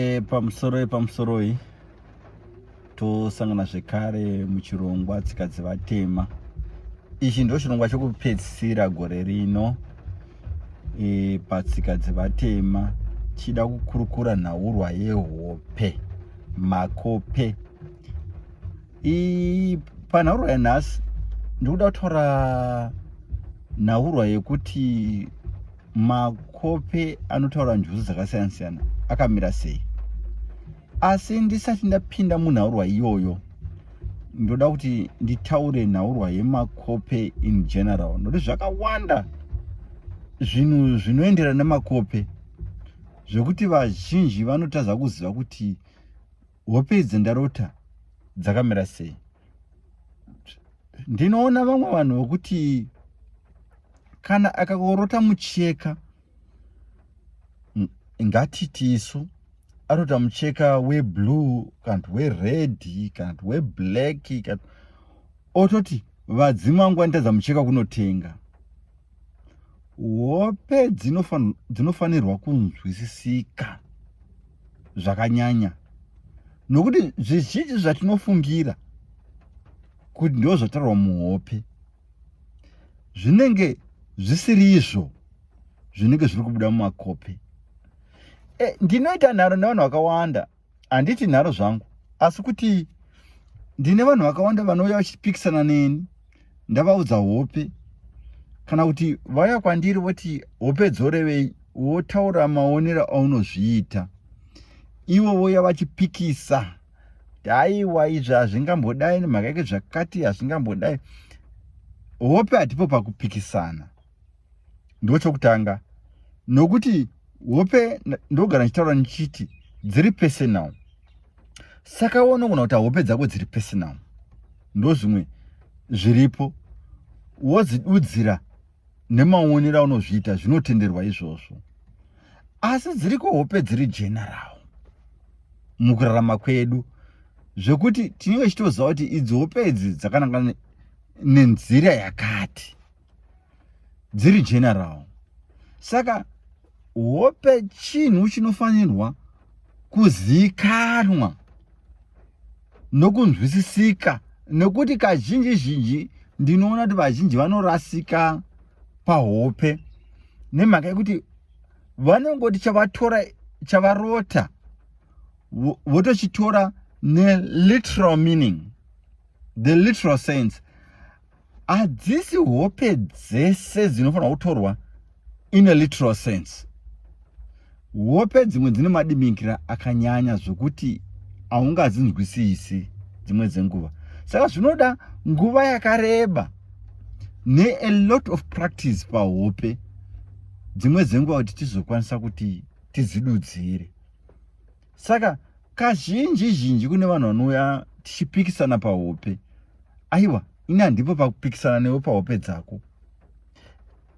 E, pamusoroi pamusoroi tosangana zvekare muchirongwa tsika dzevatema ichi ndo chirongwa chokupedzisira gore rino e, patsika dzevatema chida kukurukura nhaurwa yehope makope I, panhaurwa yanhasi ndikuda kutora nhaurwa yekuti makope anotaura njuzu dzakasiyana siyana akamira sei asi ndisati ndapinda munhaurwa iyoyo ndoda kuti nditaure nhaurwa yemakope in general nokuti zvakawanda zvinhu zvinoendera nemakope zvekuti vazhinji vanotadza kuziva kuti hope idzi ndarota dzakamira sei ndinoona vamwe vanhu vokuti kana akakorota mucheka ngatiti isu arota mucheka weblue kana kuti wered kana kuti weblack kana ototi vadzimu vangu vanitadza mucheka kunotenga hope dzinofanirwa kunzwisisika zvakanyanya nokuti zvizhinji zvatinofungira kuti ndo zvataurwa muhope zvinenge zvisiri izvo zvinenge zviri kubuda mumakope e, ndinoita nharo nevanhu vakawanda handiti nharo zvangu asi kuti ndine vanhu vakawanda vanouya vachipikisana neni ndavaudza hope kana kuti vauya kwandiri voti hope dzorevei wotaura maonero aunozviita ivo vouya vachipikisa haiwa izvi hazvingambodai nemhaka yeke zvakati hazvingambodai hope hatipo pakupikisana ndochokutanga nokuti hope ndogara ndichitaura ndichiti dziri personal saka wonogona kuti hope dzako dziri personal ndozvimwe zviripo wodzidudzira nemaonero aunozviita zvinotenderwa izvozvo asi dziriko hope dziri general mukurarama kwedu zvekuti tinenge tichitoziva kuti idzi hope idzi dzakananga nenzira yakati dziri general saka hope chinhu chinofanirwa kuzikanwa nokunzwisisika nokuti kazhinji zhinji ndinoona kuti vazhinji vanorasika pahope nemhaka yekuti vanongoti chavatora chavarota votochitora neliteral meaning the literal sense hadzisi hope dzese dzinofanira kutorwa in a literal sense hope dzimwe dzine madiminkira akanyanya zvokuti haungadzinzwisisi dzimwe dzenguva saka zvinoda nguva yakareba nea lot of practice pahope dzimwe dzenguva kuti tizokwanisa kuti tizidudzire saka kazhinji zhinji kune vanhu vanouya tichipikisana pahope aiwa ini handipo pakupikisana newe pahope dzako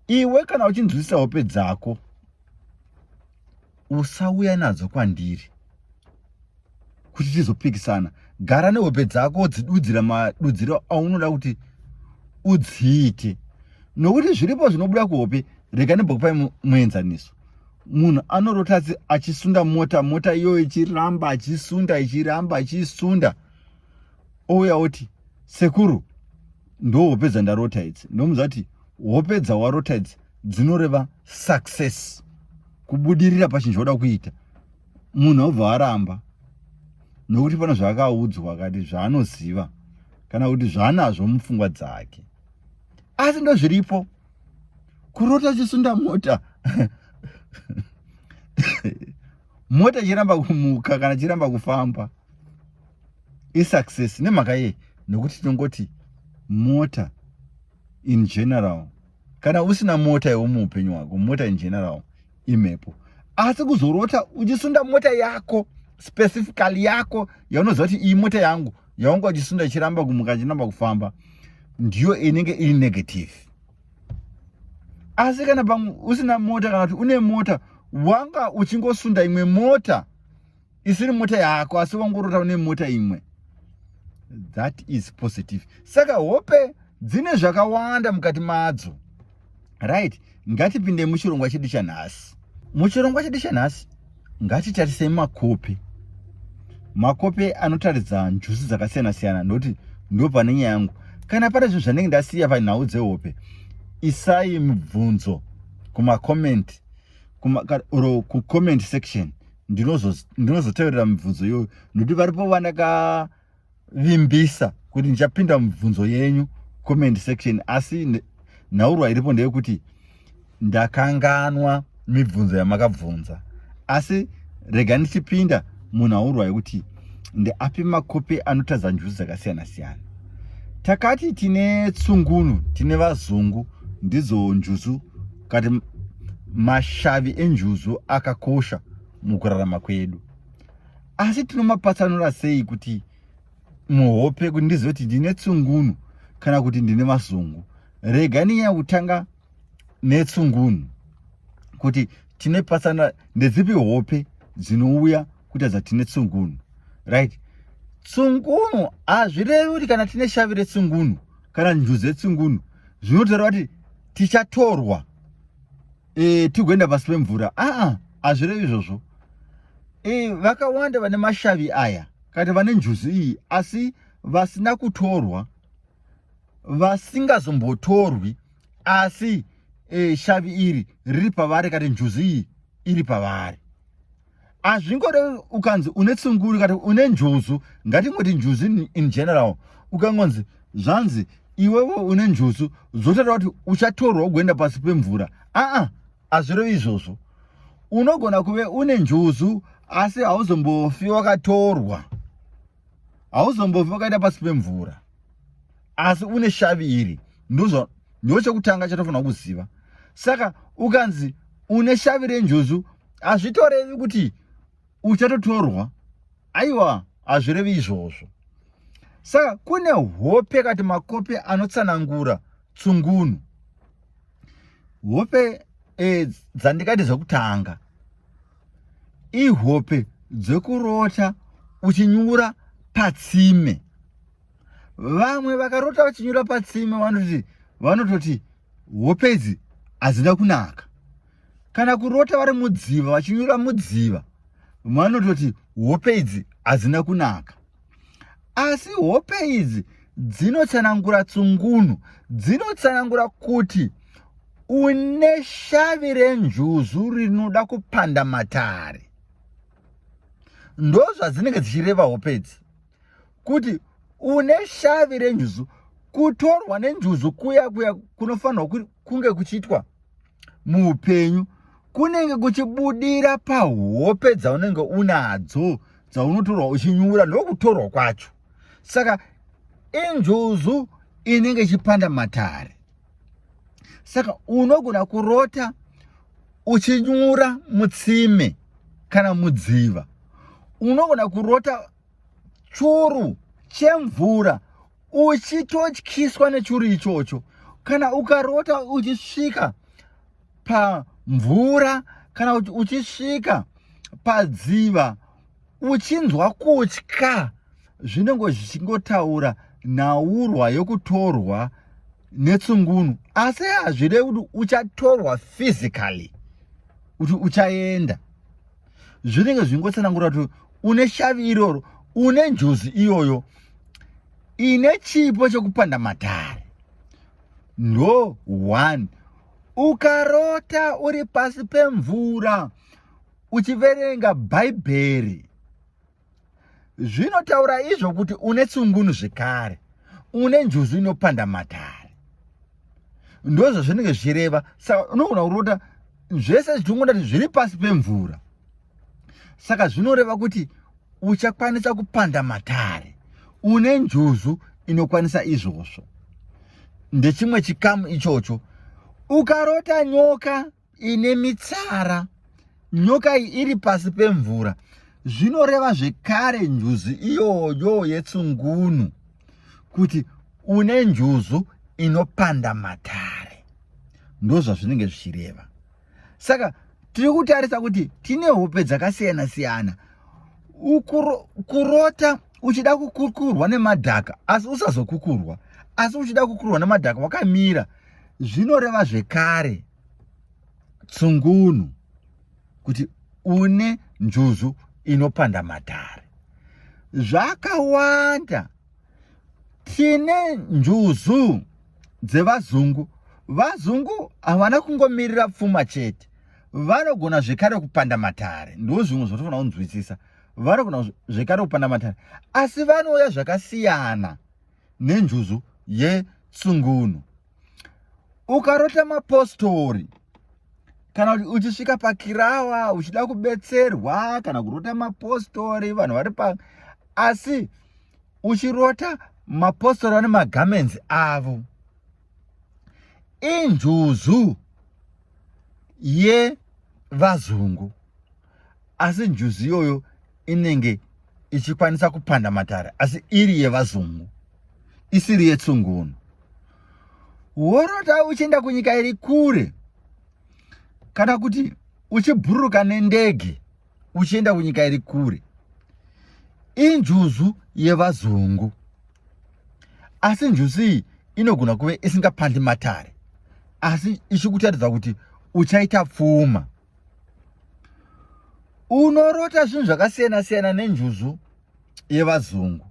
iwe kana uchinzwisisa hope dzako usauya nadzo kwandiri kuti tizopikisana gara nehope dzako udzidudzira madudziro aunoda kuti udziite nokuti zviripo zvinobuda kuhope rega nembokupai muenzaniso munhu anorota achisunda mota mota iyoyo ichiramba achisunda ichiramba achisunda ouya oti sekuru ndo hope dzandarota idzi ndomuza kuti hope dzawarota idzi dzinoreva success kubudirira pachinhu chauda kuita munhu aubva aramba nokuti pane zvaakaudzwa akati zvaanoziva kana kuti zvaanazvo mupfungwa dzake asi ndozviripo kurota uchisunda mota mota ichiramba kumuka kana ichiramba kufamba isuccess nemhaka yei nokuti tinongoti mota in general kana usina mota iwe muupenyu hwako mota in general imhepo asi kuzorota uchisunda mota yako specifically yako yaunoziva kuti iyi mota yangu yaunge uchisunda ichiramba kumuka ichiramba kufamba ndiyo inenge iri negative asi kana pamwe usina mota kana kuti une mota wanga uchingosunda imwe mota isiri mota yako asi wangorota une mota imwe that is positive saka hope dzine zvakawanda mukati madzo right ngatipinde muchirongwa chedu chanhasi muchirongwa chedu chanhasi ngatitarisei makope makope anotaridza njuzi dzakasiyana siyana nokuti ndo pane nyaya yangu kana pane zvinhu zvanenge ndasiya panhau dzehope isai mibvunzo kumacoment or kucomment section ndinozoteverera mibvunzo iyoyo nokuti varipo vanaka vimbisa kuti ndichapinda mubvunzo yenyu comment section asi nhaurwa iripo ndeyekuti ndakanganwa mibvunzo yamakabvunza asi rega ndichipinda munhu aurwa yekuti ndeapi makope anotadza njuzi dzakasiyana siyana takati tine tsungunu tine vazungu ndidzo njuzu kati mashavi enjuzu akakosha mukurarama kwedu asi tinomapatsanura sei kuti muhope kuti ndizive kuti ndine tsungunu kana kuti ndine mazungu rega ninyaya kutanga netsungunu kuti tine pasana ndedzipi hope dzinouya kuita dzatine tsungunu right tsungunu hazvirevi kuti kana tine shavi retsungunu kana njuzi yetsungunu zvinotaura kuti tichatorwa e, tigoenda pasi pemvura aa hazvirevi izvozvo e, vakawanda vane mashavi aya kana vane njuzu iyi asi vasina kutorwa vasingazombotorwi asi e, shavi iri riri pavari kana njuzu iyi iri pavari hazvingode ukanzi une tsunguri kati une njuzu ngatingoti njuzu in general ukangonzi zvanzi iwewe une njuzu zvotaura kuti uchatorwa ugoenda pasi pemvura aa hazvirevi izvozvo unogona kuve une njuzu asi hauzombofi wakatorwa hauzombofi wakaenda pasi pemvura asi une shavi iri ndozvo ndo chekutanga chatofanira kuziva saka ukanzi une shavi renjuzu hazvitorevi kuti uchatotorwa aiwa hazvirevi izvozvo saka kune hope kati makope anotsanangura tsungunu hope e, dzandikati zvekutanga ihope dzekurota uchinyura patsime vamwe vakarota vachinyura patsime vanoti vanototi hope idzi hadzina kunaka kana kurota vari mudziva vachinyura mudziva vanototi hope idzi hadzina kunaka asi hope idzi dzinotsanangura tsungunu dzinotsanangura kuti une shavi renjuzu rinoda kupanda matare ndozvadzinenge dzichireva hope idzi kuti une shavi renjuzu kutorwa nenjuzu kuya kuya kunofanirwa kunge kuchiitwa muupenyu kunenge kuchibudira pahope dzaunenge unadzo dzaunotorwa uchinyura ndokutorwa kwacho saka injuzu inenge ichipanda matare saka unogona kurota uchinyura mutsime kana mudziva unogona kurota churu chemvura uchitotyiswa nechuru ichocho kana ukarota uchisvika pamvura kana kuti uchisvika padziva uchinzwa kutya zvinenge zvichingotaura nhaurwa yokutorwa netsungunu asi hazvirevi kuti uchatorwa physically kuti uchaenda zvinenge zvingotsanangura kuti une shavi iroro une njuzi iyoyo ine chipo chekupanda matare ndo one ukarota uri pasi pemvura uchiverenga bhaibheri zvinotaura izvo kuti une tsungunu zvekare une njuzu inopanda matare ndozvo zvinenge zvichireva saka unogona kurota zvese zvichingondati zviri pasi pemvura saka zvinoreva kuti uchakwanisa kupanda matare une njuzu inokwanisa izvozvo ndechimwe chikamu ichocho ukarota nyoka ine mitsara nyoka iyi iri pasi pemvura zvinoreva zvekare njuzu iyoyo yetsungunu kuti une njuzu inopanda matare ndozvazvinenge zvichireva saka tiri kutarisa kuti tine hope dzakasiyana siyana kurota uchida kukukurwa nemadhaka asi usazokukurwa asi uchida kukurwa nemadhaka wakamira zvinoreva zvekare tsungunu kuti une njuzu inopanda matare zvakawanda tine njuzu dzevazungu vazungu havana kungomirira pfuma chete vanogona zvekare kupanda matare ndo zvimwe zvotofanira kunzwisisa vanogona zvekare kupanda matare asi vanouya zvakasiyana nenjuzu yetsungunu ukarota mapostori kana kuti uchisvika pakirawa uchida kubetserwa kana kurota mapostori vanhu vari pa asi uchirota mapostori ane magamenzi avo injuzu yevazungu asi njuzu iyoyo inenge ichikwanisa kupanda matare asi iri yevazungu isiri yetsungunu worota uchienda kunyika iri kure kana kuti uchibhururuka nendege uchienda kunyika iri kure injuzu yevazungu asi njuzu iyi inogona kuve isingapandi matare asi ichikutaridza kuti uchaita pfuma unorota zvinhu zvakasiyana siyana nenjuzu yevazungu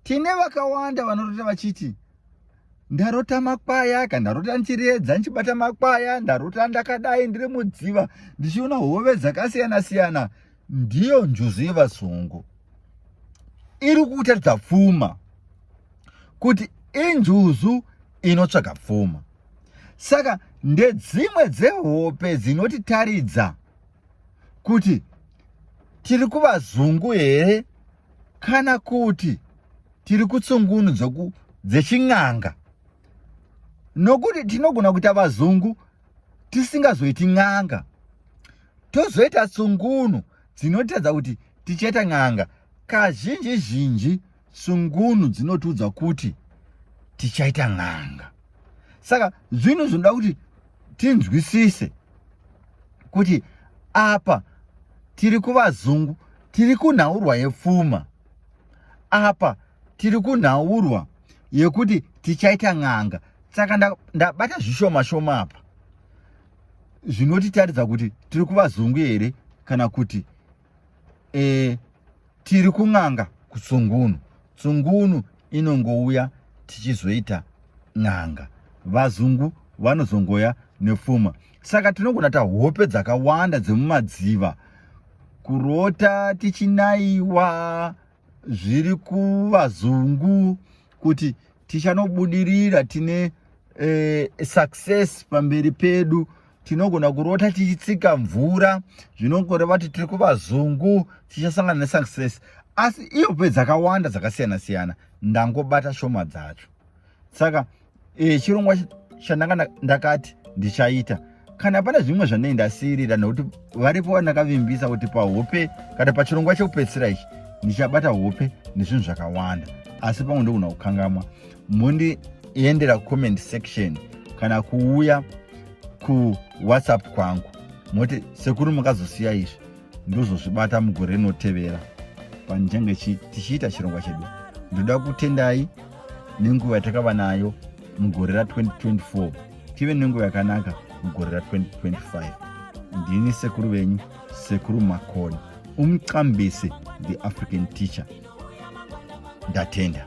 tine vakawanda vanorota vachiti ndarota makwaya ka ndarota ndichiredza ndichibata makwaya ndarota ndakadai ndiri mudziva ndichiona hove dzakasiyana siyana ndiyo njuzu yevazungu iri kutaridza pfuma kuti injuzu inotsvaga pfuma saka ndedzimwe dzehope dzinotitaridza kuti tiri kuvazungu here kana kuti tiri kutsungunu dzoku dzechin'anga nokuti tinogona kuita vazungu tisingazoiti n'anga tozoita tsungunu dzinotadza kuti tichaita n'anga kazhinji zhinji tsungunu dzinotiudza kuti tichaita n'anga saka zvinhu zvinoda kuti tinzwisise kuti apa tiri kuvazungu tiri kunhaurwa yepfuma apa tiri kunhaurwa yekuti tichaita n'anga saka ndabata zvishoma shoma apa zvinotitaridza kuti tiri kuvazungu here kana kuti e, tiri kun'anga kutsungunu tsungunu inongouya tichizoita n'anga vazungu vanozongoya nepfuma saka tinogona ta hope dzakawanda dzemumadziva kurota tichinaiwa zviri kuvazungu kuti tichanobudirira tine eh, success pamberi pedu tinogona kurota tichitsika mvura zvinokoreva kuti tiri kuvazungu tichasangana nesuccess asi ihope dzakawanda dzakasiyana siyana ndangobata shoma dzacho saka e, chirongwa chandanga ndakati ndichaita kana pane zvimwe zvandei ndasiirira nokuti varipo vandakavimbisa kuti pahope kana pachirongwa chekupedzisira ichi ndichabata hope nezvinhu zvakawanda asi pamwe ndogona kukangamwa mondiendera comment section kana kuuya kuwhatsapp kwangu moti sekuru makazosiya izvi ndozozvibata mugore rinotevera panjenge tichiita chirongwa chedu ndoda kutendai nenguva yatakava nayo mugore ra2024 tive nenguva yakanaka mugore ra2025 ndini sekuru venyu sekuru makoni umqambise the african teacher ndatenda